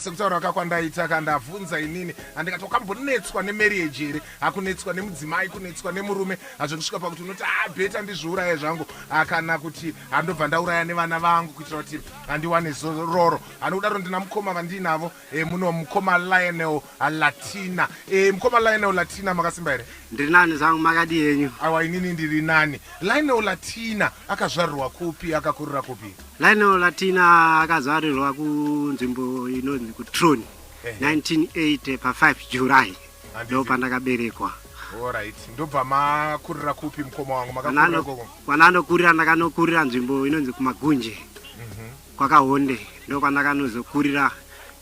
sekutaura ka kwandaita ka ndavhunza inini andikati wakambonetswa nemarriage here hakunetswa nemudzimai kunetswa nemurume hazvikusvika pakuti unoti abeta ah, ndizviuraya zvangu ah, kana kuti handobva ah, ndauraya nevana vangu kuitira kuti handiwane zororo handikudaro ndina mukoma vandiinavo e, muno mukoma lionel latina e, mukoma lionel latina makasimba here ndiri nani zangu makadii henyu awa inini ndiri nani lionel latina akazvarirwa kupi akakurira kupi Lionel Latina akazarirwa kunzvimbo inonzi kuTroni 1980 pa 5 July ndo pandakaberekwa. Alright, ndobva makurira kupi mukoma wangu? Makakurira koko? Kwana anokurira ndakanokurira nzvimbo inonzi kuMagunje mhm. kwakahonde ndo kwandakanozokurira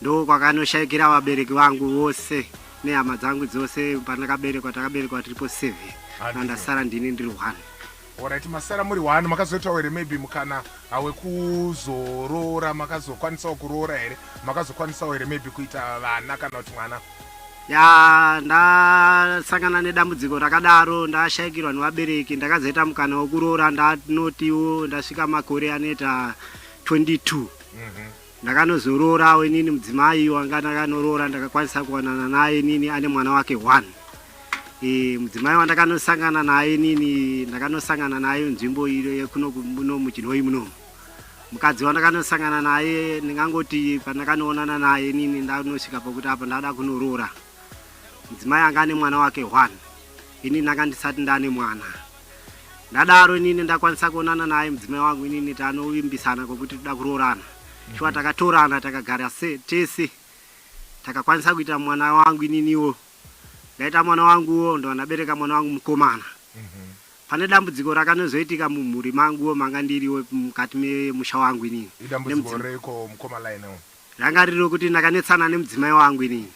ndo kwakanoshaikira vabereki vangu vose nehama dzangu dzose pandakaberekwa takaberekwa tiripo seven andasara ndini ndiri one Horaiti masara muri one makazoitawo here maybe mukana hawekuzoroora makazokwanisawo kuroora here makazokwanisawo here maybe kuita vana kana kuti mwana ya ndasangana nedambudziko rakadaro ndashaikirwa nevabereki ndakazoita mukana wekuroora ndanotiwo ndasvika makore anoita 22 mm -hmm. Ndakanozoroorawo inini mudzimai wanga ndakanoroora ndakakwanisa kuwanana naye inini ane mwana wake one. E, mudzimai wandakanosangana naye inini ndakanosangana naye nzvimbo iyo yekuno muno muchinhoyi muno. Mukadzi wandakanosangana naye ndingangoti pandakanoonana naye inini ndanosvika pakuti apa ndada kunoroora. Mudzimai anga ane mwana wake one. Inini ndanga ndisati ndane mwana. ndadaro inini ndakwanisa kuonana naye mudzimai wangu inini tanovimbisana kwekuti toda kuroorana shuwa mhm. takatorana takagara se tese takakwanisa kuita mwana wangu ininiwo ndaita mwana wanguwo ndovandabereka mwana wangu mukomana mhm. pane dambudziko rakanozoitika mumhuri manguwo manga ndiriwo mukati memusha wangu inini ranga riri rokuti ndakanetsana nemudzimai wangu inini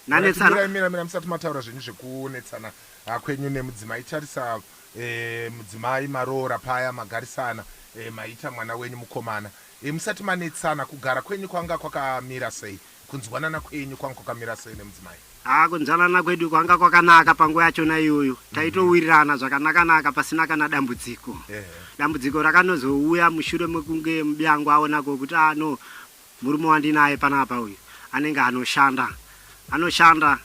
nanetsana mira mira musati mataura zvenyu zvekunetsana ah, kwenyu nemudzimai tarisa e, mudzimai maroora paya magarisana e, maita mwana wenyu mukomana e, musati manetsana kugara kwenyu kwanga kwakamira sei kunzwanana kwenyu kwanga kwakamira sei nemudzimai haa kunzwanana kwedu kwanga kwakanaka panguva yachona iyoyo mhm. taitowirirana zvakanakanaka pasina kana dambudziko dambudziko rakanozouya mushure mekunge mubiyangu aonako kuti ano ah, Murume wandinaye panapa uyu anenge anoshanda anoshanda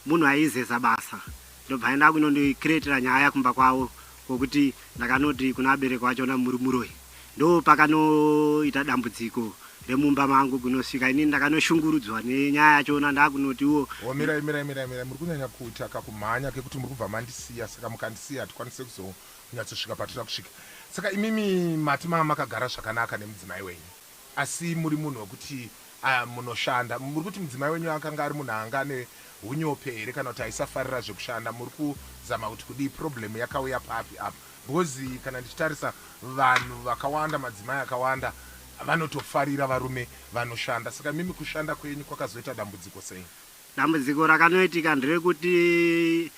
munhu aizeza basa ndobva aenda kunondi creatira nyaya kumba kwavo kokuti ndakanoti kuna abereki wacho ona muri muroyi ndopakanoita dambudziko remumba mangu kunosvika inini ndakanoshungurudzwa nenyaya yacho ona ndakunoti wo Oh mirai mirai mirai mirai muri kunyanya kuita kakumhanya kekuti muri kubva mandisiya saka mukandisiya hatikwanise kuzonyatsosvika patinoda kusvika saka imimi mati mava makagara zvakanaka nemudzimai wenyu. Asi muri munhu wekuti munoshanda. Muri kuti mudzimai wenyu akanga ari munhu anga ane hunyope here kana kuti aisafarira zvekushanda. Muri kuzama kuti kudii. Problem yakauya papi apa. Because kana ndichitarisa vanhu vakawanda madzimai akawanda vanotofarira varume vanoshanda. Saka imimi kushanda kwenyu kwakazoita dambudziko sei. Dambudziko rakanoitika nderekuti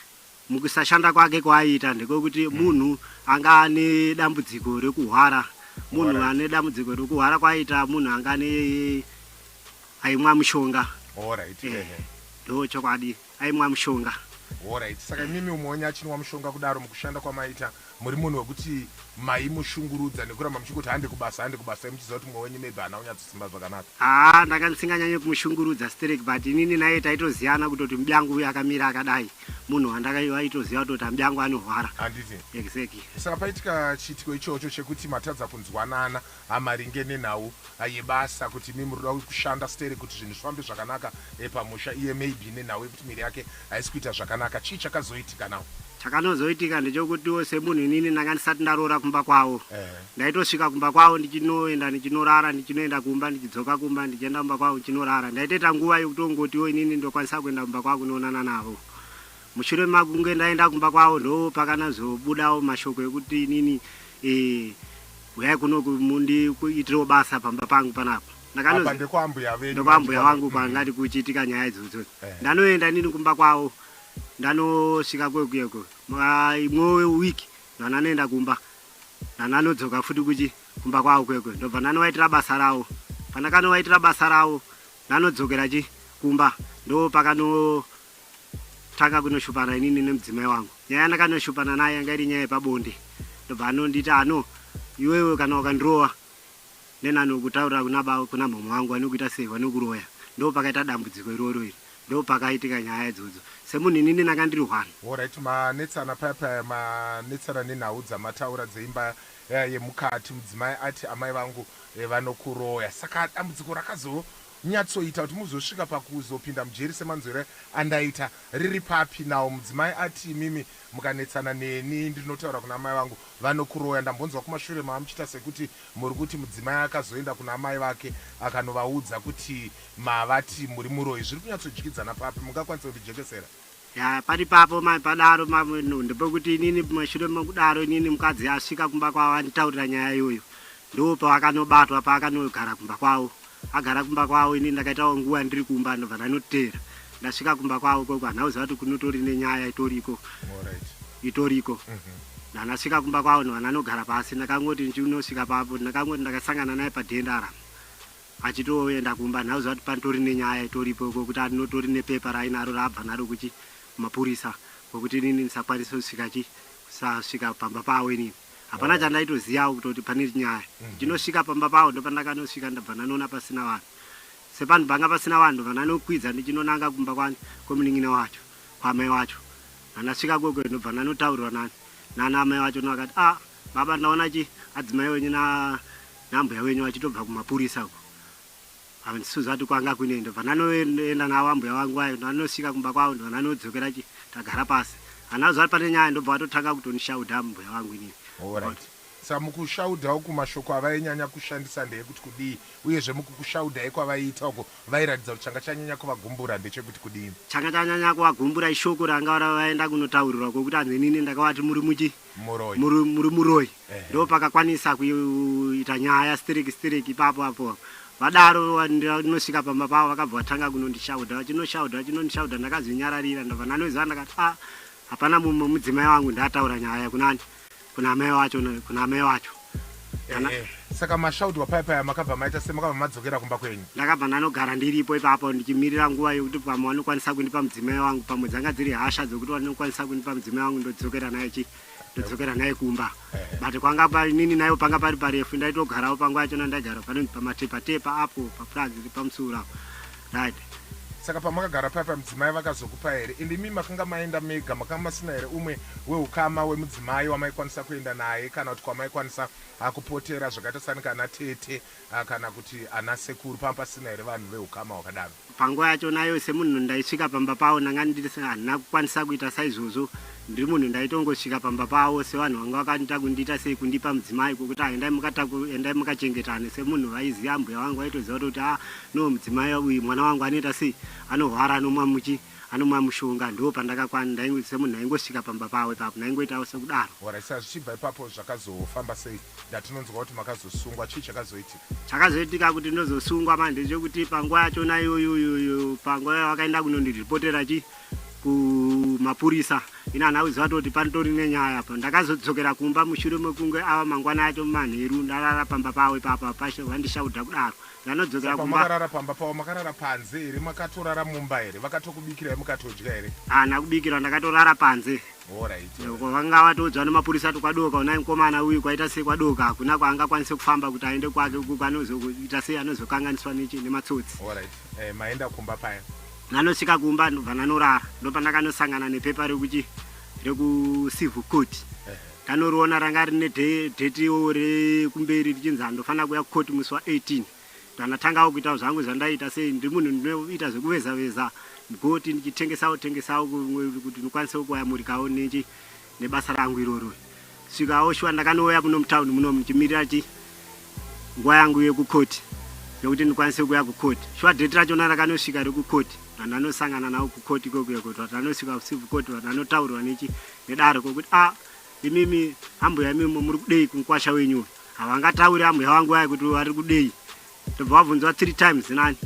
Mukusashanda kwake kwaaiita ndekwekuti munhu anga ane dambudziko rekuhwara munhu Alright. ane dambudziko rekuhwara kwaaiita munhu anga ane aimwa mushonga Alright, Eh. ehe. ndo chokwadi aimwa mushonga Alright. Saka imimi umonya achinwa mushonga kudaro mukushanda kwamaita muri munhu wekuti maimushungurudza nekuramba muchingoti hande kubasa hande kubasa muchiziva kuti mumwe wenyu maybe haana kunyatso Simba zvakanaka. Haa ndanga ndisinganyanye kumushungurudza sterek but inini naye taitoziyana kutoti mudyangu uyu akamira akadai munhu wandakaitoziva kutoti amudyangu anohwara handiti exactly saka paitika chiitiko ichocho chekuti matadza kunzwanana maringe nenhau yebasa kuti mi murikuda kushanda sterek kuti zvinhu zvifambe zvakanaka pamusha iye maybe nenhau yekuti miri yake haisi kuita zvakanaka chii chakazoitika now. Chakanozoitika ndechokutiwo semunhu inini ndanga ndisati ndaroora kumba kwavo Eh. ndaitosvika kumba kwavo ndichinoenda ndichinorara ndichinoenda kumba ndichidzoka kumba ndichienda kumba kwavo ndichinorara ndaitoita nguva yekutongotiwo inini ndokwanisa kuenda kumba kwavo kunoonana navo mushure makunge ndaenda kumba kwavo ndo pakanazobudawo mashoko ekuti inini eh, huyai kuno ku- mundi kuitirewo basa pamba pangu panapa Apa ndekwaambuya venyu. Ndokwambuya vangu kwangati kuchiitika nyaya idzodzo. Eh. Ndanoenda inini kumba kwavo. Ndanosvika kwekuyeko. Imwe week ndana anoenda kumba. Ndana anodzoka futi kuchi kumba kwavo kwekwe. Ndobva ndanovaitira basa ravo. Pandakanovaitira basa ravo ndanodzokera chi kumba. Ndopakano tanga kunoshupana inini nemudzimai wangu. Nyaya yandakanoshupana naye yanga iri nyaya yepabonde. Ndobva anonditi ano iwewe kana ukandirova Nenani ukutaurira kuna baba kuna mhamha vangu vanokuita sei vanokuroya ndopakaita dambudziko iroro iri ndopakaitika nyaya idzodzo semunhu inini nanga ndiri one. Horaiti manetsana paya paya manetsana nenhau dzamataura dzeimba yemukati mudzimai ati amai vangu vanokuroya saka dambudziko rakazonyatsoita kuti muzosvika pakuzopinda mujeri semanzwire andaita riri papi now mudzimai ati imimi mukanetsana neni ndinotaura kuna amai vangu vanokuroya ndambonzwa kumashure mamuchiita sekuti Muri kuti mudzimai akazoenda kuna amai vake akanovaudza kuti mavati muri muroyi zviri kunyatsodyidzana papi mungakwanise kundijekesera. Yaa pari ipapo mai padaro mamwe no ndopokuti inini mushure mokudaro inini mukadzi asvika kumba kwavo anditaurira nyaya iyoyo ndopavakanobatwa paakanogara kumba kwavo. Agara kumba kwavo ini ndakaitawo nguva ndiri kumba ndobva ndanoteera. Ndasvika kumba kwavo ikoko handina kuziva kuti kunotori nenyaya itori ikoko. Alright. Itori ikoko. Mhm. Ndandasvika kumba kwavo ndobva ndanogara pasi ndakangoti ndichinosvika papo ndakangoti ndakasangana naye padhenda ara achitoenda kumba handina kuziva kuti panotori nenyaya itoripo ikoko kuti anotori nepepa rainaro raabva naro kuchi mapurisa kwekuti inini ndisakwanise kusvika chi kusasvika pamba pavo inini. Hapana chandaitoziyawo kutoti pane nyaya. Ndichinosvika pamba pavo ndopandakanosvika ndabva ndanoona pasina vanhu. Sepanhu panga pasina vanhu ndobva ndanokwidza ndichinonanga kumba kwani kwemunin'ina wacho kwaamai wacho. Pandasvika ikoko ndobva ndanotaurirwa nani nana amai vacho ndovakati ah baba ndaona chi adzimai wenyu na naambuya wenyu vachitobva kumapurisa uko. Hanzi Suzati kwanga kune ndobva ndanoenda navo ambuya vangu vayo ndovanosvika kumba kwavo ndobva ndanodzokera chi tagara pasi handina kuziva kuti pane nyaya ndobva vatotanga kutondishaudha mbuya vangu inini Alright. Sa mukushaudha uku mashoko avainyanya kushandisa ndeekuti kudii uyezve mukukushaudha ekwavaiita uko vairatidza kuti changa chanyanya kuvagumbura ndechekuti kudii. Changa chanyanya kuvagumbura ishoko ranga vaenda kunotaurirwa ko kuti hanzi inini ndakavati muri muchi. Muroyi. Muro- muri muroyi Ehe. ndopakakwanisa kuita nyaya stereki stereki ipapo apo vadaro wa- ndira- ndinosvika pamba pavo vakabva vatanga kunondishaudha vachinoshaudha vachinoshaudha ndakazvinyararira ndabva ndanoziva ndakati a hapana mumwe mudzimai wangu ndataura nyaya kunani kuna amai wacho na- kuna amai wacho Nana. Eh, saka mashaudwa paya paya makabva maita se makabva madzokera kumba kwenyu ndakabva ndanogara ndiripo ipapo ndichimirira nguva yekuti pamwe vanokwanisa kundipa mudzimai wangu pamwe dzanga dziri hasha dzekuti vanokwanisa kundipa mudzimai wangu ndodzokera naye chi ndodzokera naye kumba but kwanga pa inini nayo panga pari parefu ndaitogarawo panguva yachona ndaigara panonzi pamatepatepa apo papurazi pamusura apo Dad. Saka pamakagara paya pamudzimai vakazokupa here and imi makanga maenda mega makanga masina here umwe weukama wemudzimai wamaikwanisa kuenda naye kana kuti kwamaikwanisa ah, kupotera zvakaita sani kana tete ah, kana kuti ana sekuru panga pasina here vanhu veukama hwakadaro? Panguva yacho nayo semunhu ndaisvika pamba pavo ndanga ndiri handina kukwanisa kuita saizvozvo Ndiri munhu ndaitongosvika pamba pavo sevanhu vanga vakanoita kundiita sei kundipa mudzimai kwekuti ah, endai mukataku endai mukachengetane semunhu vaiziva ambuya vangu vaitoziva kuti kuti ah, no mudzimai uyu mwana wangu anoita sei anorwara anomwa muchi anomwa mushonga ndo pandakakwana ndaingo semunhu ndaingosvika pamba pavo ipapo ndaingoitawo sekudaro Alright, sa zvichibva ipapo zvakazofamba sei ndatinonzwa kuti makazosungwa chii chakazoitika chakazoitika kuti ndozosungwa manje chekuti panguva yachona iyoyo iyoyo panguva yavakaenda kunondiripotera chi kumapurisa ini hana kuziva toti panitori nenyaya apa ndakazodzokera kumba mushure mekunge ava mangwana acho mumanheru ndarara pamba pavo ipapa pasho vandishaudha kudaro ndanodzokera kumbaarara pamba pavo makarara panze here makatorara mumba here vakatokubikirai mukatodya here hana kubikirwa ndakatorara panze vanga vatoudzwa nemapurisa ati kwadoka unai mukomana uyu kwaita sei kwadoka hakuna kwaanga kwanise kufamba kuti aende kwake ukuku anozoita sei anozokanganiswa nematsotsi eh, maenda kumba paya Ndanosvika kumba ndobva ndanorara ndopandakanosangana nepepa rekuchi rekucivil court ndanoriona ranga rine detiwo rekumberi richinzi andofanira kuya court musi wa18 ndanatangawo kuitawo zvangu zvandaita sei ndiri munhu ndinoita zvekuveza veza mugoti ndichitengesawo tengesawo kuti ndikwanisewo kuyamurikawo nechi nebasa rangu iroro svikawo shuwa ndakanouya muno mutown muno muchimirira chi nguva yangu yekukoti yekuti ndikwanise kuya kukoti shuwa date rachona rakanosvika rekukoti vanhu vanosangana navo kukoti kokuya kuti vanhu vanosvika kucivil court vanhu vanotaurwa nechi nedare kokuti a ah, imimi ambuya imimi muri kudei kunkwasha wenyuwe havangatauri ambuya vangu vaya kuti vari kudei ndobva vabvunzwa three times nani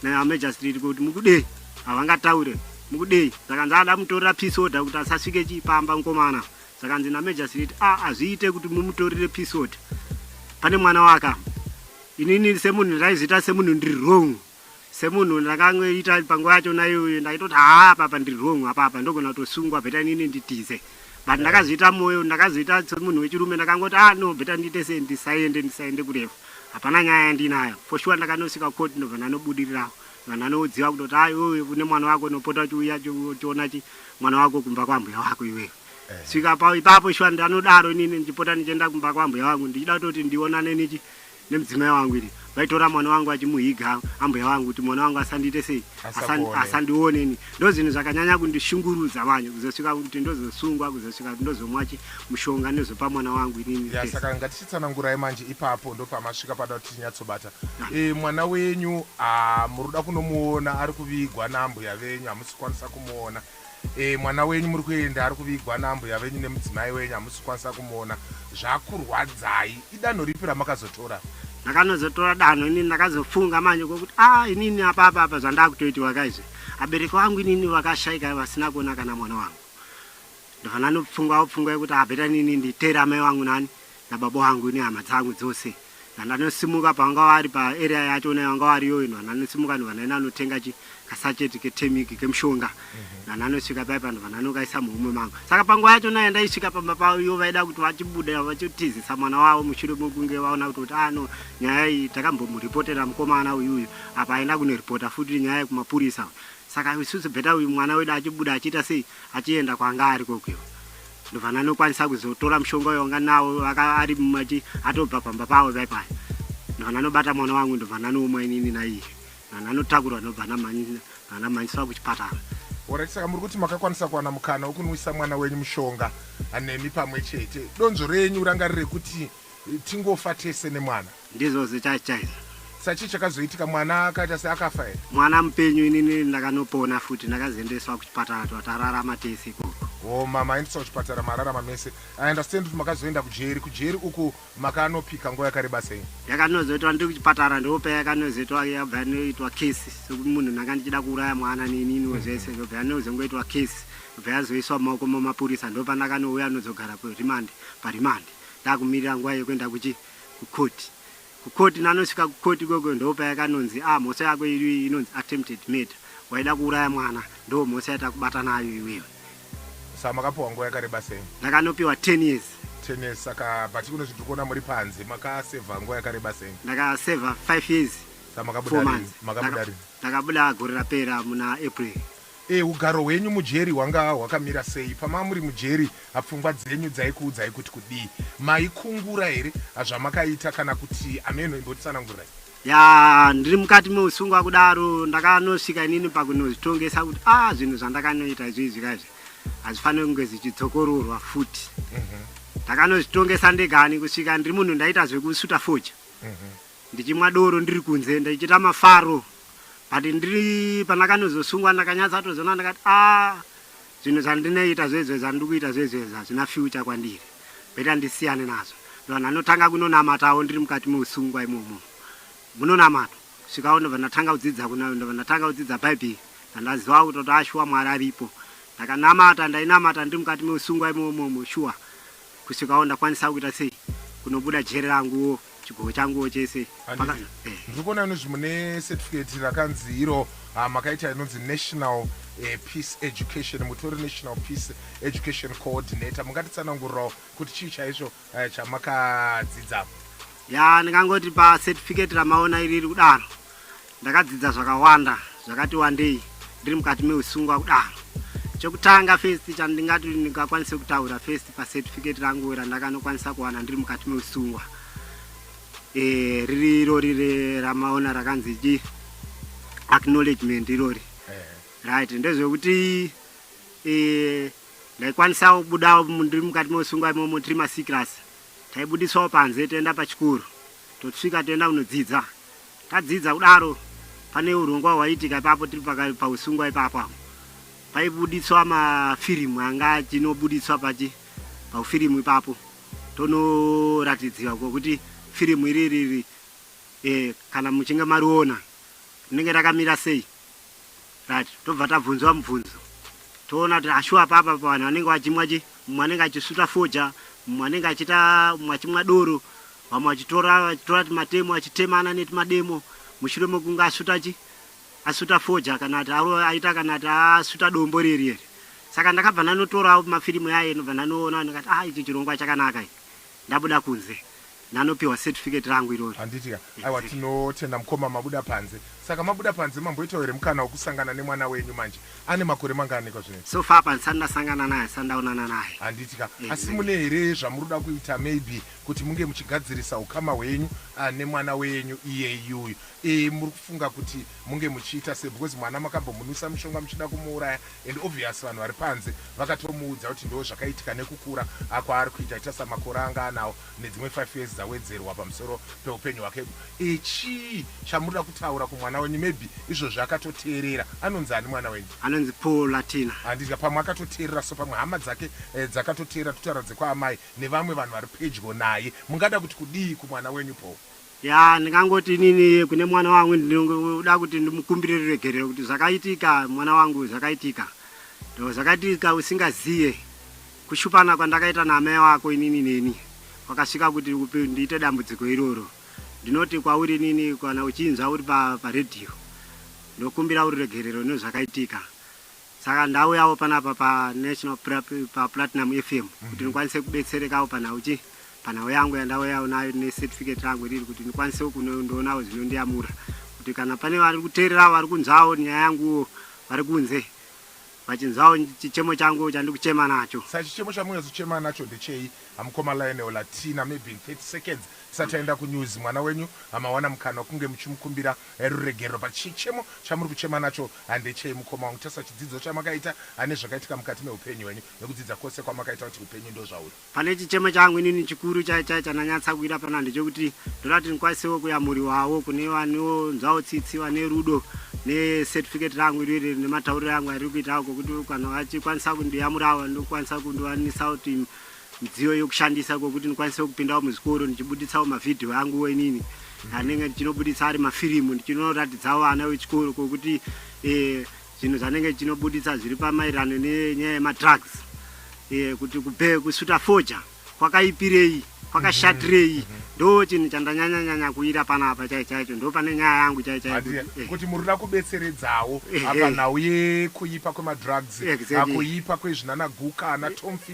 namejastrit kuti mukudei havangataure mukudei zvakanzi ada mutorera peace order kuti asasvike chii pamba mukomana zvakanzi namejastrit a hazviite kuti mumutorere peace order pane mwana waka inini semunhu ndaizoita semunhu ndiri wrong semunhu ndakangoita panguva yacho naiyoyo ndaitoti haa apapa ndiri wrong apapa ndogona kutosungwa bheta inini nditize but ndakazviita moyo ndakazviita semunhu wechirume ndakangoti ah no bheta ndiite sei ndisaende ndisaende kurefu hapana nyaya yandinayo for sure ndakanosvika court ndobva ndanobudirirawo vanhu anoziva kutoti ah iwewe une mwana wako unopota uchiuya uchiona chi mwana wako kumba kwambuya wako iwewe svika pa ipapo shuwa ndanodaro inini ndichipota ndichienda kumba kwambuya wangu ndichida kutoti ndionane nechi nemudzimai wangu iri vaitora mwana wangu vachimuhiga ambuya vangu kuti mwana wangu asandiite sei asandioneni ndo zvinhu zvakanyanya kundishungurudza manje kuzosvika kuti ndozosungwa kuzosvika kuti ndozomwa chi mushonga ndozopa mwana wangu inini ya, saka ngatichitsanangurai manje ipapo ndopamasvika panoda kuti tinyatsobata ah. e, mwana wenyu ah, muri kuda kunomuona ari kuvigwa naambuya venyu hamusikwanisa kumuona Eh mwana wenyu muri kuenda ari kuvigwa naambuya venyu nemudzimai wenyu hamusi kukwanisa kumuona zvakurwadzai idanho ripi ramakazotora ndakanozotora danho inini ndakazofunga manje kwokuti a ah, inini apapa apa zvandakutoitiwa kaizve abereki wangu inini vakashaika vasina kuona kana mwana wangu ndovana nopfungwa opfungwa yekuti abeta ah, inini nditere amai wangu nani nababa vangu nehama dzangu dzose and anosimuka pavanga vari paarea yacho naye vanga vari yoino and anosimuka anhu vanaine anotenga chi kasacheti ketemiki kemushonga mhm. and anosvika pai panhu vanhu anokaisa muhomwe mangu saka panguva yacho naye ndaisvika pamba payo vaida kuti vachibuda vachitizisa mwana wavo mushure mekunge vaona kuti kuti ano ah, nyaya iyi takambomuripotera mukomana uyuyu apa aenda kunoripota futi nyaya yekumapurisa saka isusu bheta uyu mwana wedu achibuda achiita sei achienda kwanga ari kokuyo Ndovana anokwanisa kuzotora mushonga uyo wanga nawo ari mumachi atobva pamba pawo pai pai. Ndovana anobata mwana wangu ndovana anoumwa inini naiye. Ndovana anotakurwa ndobva anamhanyiswa kuchipatara. Alright, saka muri kuti makakwanisa kuwana mukana wekunwisa mwana wenyu mushonga nemi pamwe chete. Donzvo renyu ranga riri rekuti tingofa tese nemwana? Ndizvo zita chaizvo. Sachii chakazoitika mwana akaita seakafa here? Mwana mupenyu inini ndakanopona futi ndakazoendeswa kuchipatara twa tararama tese ikoko. Oh ma maendeswa kuchipatara mararama mese. I understand kuti makazoenda kujeri. Kujeri uku makanopika nguva yakareba sei? Yakanozoitwa ndiri kuchipatara ndopa yakanozoitwa yabva yanoitwa case sokuti munhu ndanga ndichida kuuraya mwana neininiwo zvese ndobva yanozongoitwa case ndobva yazoiswa mumaoko mamapurisa ndopa ndakanouya nozogara kuremand paremand ndakumirira nguva yekuenda kuchi ku court ku court nanosvika ku court ikoko ndopayakanonzi ah mhosva yako iri inonzi attempted murder waida kuuraya mwana ndo mhosva yatakubata nayo iwewe Saka makapiwa nguva yakareba sei? ndakanopiwa 10 years Ten years. Saka but kuno zvitiri kuona muri panze makasevha nguva yakareba sei? ndakasevha 5 years Saka 4 makabuda rini? months Makabuda Ndaka- rini? ndakabuda gore rapera muna april E. Hugaro hwenyu mujeri hwanga hwakamira sei? Pama muri mujeri a pfungwa dzenyu dzaikuudzai kuti kudii? Maikungura here a zvamakaita kana kuti ameno imbotsanangurirai. Yaa ndiri mukati meusungwa kudaro ndakanosvika inini pakunozvitongesa kuti a zvinhu zvandakanoita izvizvi ka izvi hazvifaniri kunge zvichidzokororwa futi. Ndakanozvitongesa ndegani kusvika ndiri munhu ndaita zvekusuta fodya. ndichimwa doro ndiri kunze ndichiita mafaro but ndiri pandakanozosungwa ndakanyatsa tozoona ndakati a ah, zvinhu zvandinoita zvezvo zvandiri kuita zvezvezvo hazvina future kwandiri beta ndisiyane nazvo ndovanhu anotanga kunonamatawo ndiri mukati meusungwa imomo munonamata svikawo ndobva ndatanga kudzidza kuna ndobva ndatanga kudzidza bhaibheri ndandaziva kutoti ashuwa mwari aripo ndakanamata ndainamata ndiri mukati meusungwa imomomo shuwa kusvikawo ndakwanisa kuita sei kunobuda jeri ranguwo chigogo changuwo chese Paka- eh. ndiri kuona inozvi mune certificate rakanzi iro ah, makaita inonzi national eh, peace education mutori national peace education coordinator mungatitsanangurirawo kuti chii chaizvo eh, chamakadzidza ya ndingangoti pacertificate ramaona iriri kudaro Ndakadzidza zvakawanda zvakati wandei ndiri mukati meusungwa kudaro. Chekutanga first chandingati ndingakwanise kutaura first pacertificate rangu randakanokwanisa kuwana ndiri mukati meusungwa e, riri irori re, ramaona rakanzi chi acknowledgement irori right ndezvekuti e, ndaikwanisa kubuda ndiri mukati meusungwa imomo tiri masecras taibudiswawo panze toenda pachikoro tosvika toenda kunodzidza Tadzidza kudaro pane hurongwa hwaiitika ipapo tiri paka- pausungwa ipapo apo paibuditswa mafirimu anga achinobuditswa pachi paufirimu ipapo tonoratidziwa kwokuti firimu iri riri eh, kana muchinge mariona rinenge rakamira sei Right, tobva tabvunzwa mubvunzo toona kuti ashuwa papa pa vanhu vanenge vachimwa chi mumwe anenge achisuta foja mumwe anenge achita mumwe achimwa doro vamwe vachitora vachitora timatemo achitemana netimademo mushure mekunge asuta chi asuta foja kana kuti aita kana kuti asuta dombo riye riye saka ndakabva ndanotorawo mafirimu yaye ndobva ndanoona ndikati ah ichi chirongwa chakanaka ichi Ndabuda kunze ndanopiwa certificate rangu irori. Handiti ka? Aiwa Exactly. tinotenda mukoma mabuda panze. Saka mabuda panze mamboitawo here mukana wekusangana nemwana wenyu manje? Ane makore mangaaniko zvino? So far apa ndisati ndasangana naye ndisati ndaonana naye. Handiti ka? Asi Exactly. mune here zvamuri kuda kuita maybe kuti munge muchigadzirisa hukama hwenyu ah, nemwana wenyu iyeyuyu? Eh muri kufunga kuti munge muchiita sei because mwana makambomunwisa mushonga muchida kumuuraya and obvious vanhu vari panze vakatomuudza kuti ndo zvakaitika nekukura akwaari kuita ita samakore anga anawo nedzimwe 5 years dzawedzerwa pamusoro peupenyu hwake e chii chamurida kutaura kumwana wenyu maybe izvozvi akatoteerera anonzi ani mwana wenyu anonzi paul latina handidya pamwe akatoteerera so pamwe hama dzake eh, dzakatoteerera kutaura dzekwaamai nevamwe vanhu vari pedyo naye mungada kuti kudii kumwana wenyu paul Ya ndingangoti inini kune mwana wangu ndinoda kuti ndimukumbire ruregerero kuti zvakaitika mwana wangu zvakaitika ndo zvakaitika usingaziye kushupana kwandakaita naamai wako inini neni wakasvika kuti ndiite dambudziko iroro ndinoti kwauri inini kana uchinzwa uri paredhiyo ndokumbira ururegerero nezvakaitika Saka ndauyawo panapa pa National pa Platinum FM kuti ndikwanise kubetserekawo panhau chi panhau yangu yandauyawo nayo ne certificate rangu riri kuti ndikwanisewo kunondoonawo zvinondiyamura kuti kana pane vari kuteererawo vari kunzwawo nyaya yanguwo vari kunze vachinzwawo chichemo changu chandiri kuchema nacho Saka chichemo chamunyazochema nacho ndechei mukoma Lionel Latina maybe in 30 seconds tisati taenda kunews mwana wenyu amawana mukana wekunge muchimukumbira Ruregerero pachichemo chamuri kuchema nacho hande chei mukoma wangu tarisa chidzidzo chamakaita hande zvakaitika mukati mehupenyu hwenyu nekudzidza kwose kwamakaita kuti hupenyu ndozvauri. Pane chichemo changu inini chikuru chai chai chandanyatsa kuita pano hande chekuti ndoda kuti ndikwanisewo kuyamuriwawo kune vanonzwawo tsitsi vane rudo ne certificate rangu iriri nematauriro angu ariri kuitawo kokuti kana vachikwanisa kundiyamurawo ndokwanisa kundiwanisa kuti midziyo yokushandisa kwekuti ndikwanise kupindawo muzvikoro ndichibuditsawo mavhidhiyo anguwo inini anenge ndichinobuditsa ari mafirimu ndichinoratidzawo vana vechikoro kwekuti eh, zvinhu zvanenge ndichinobuditsa zviri pamaererano nenyaya yemadrugs eh, kuti kube kusuta foja kwakaipirei kwakashatirei mhm, mhm, mhm. ndo chinhu chandanyanyanyanya kuira panapa chai chaicho ndo pane nyaya yangu chai chaikuti eh. muri da kubetseredzawo apa nhau yekuipa kwemadrugs akuipa kwezvinanaguka anatomfi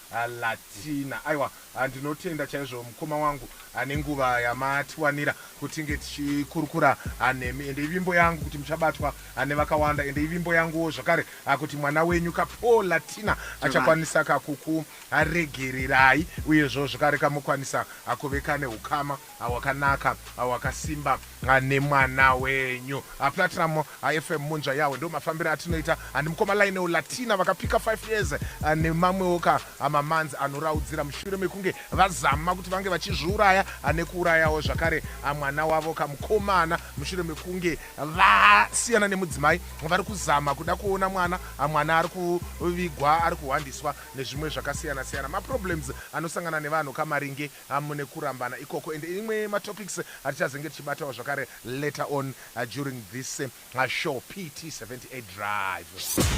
Haa Latina aiwa haa ndinotenda chaizvo mukoma wangu haa nenguva yamatiwanira kuti tinge tichikurukura haa nemi ende ivimbo yangu kuti muchabatwa haa nevakawanda ende ivimbo yanguwo zvakare haa kuti mwana wenyu ka Paul Latina achakwanisa ka kukuregererai uyezvo zvakare ka mokwanisa haa kuve ka nehukama Awakanaka awakasimba nemwana wenyu Platinum FM munzva yawe ndo mafambire atinoita and mukoma Lionel Latina vakapika 5 years nemamwewo ka ma months anoraudzira mushure mekunge vazama kuti vange vachizviuraya nekuurayawo zvakare mwana wavo ka mukomana mushure mekunge vasiyana nemudzimai vari kuzama kuda kuona mwana mwana ari kuvigwa ari kuhwandiswa nezvimwe zvakasiyana siyana maproblems anosangana nevanhu ka maringe hamune kurambana ikoko and imwe matopics atichazenge tichibatawo zvakare later on during this show PT 78 drive.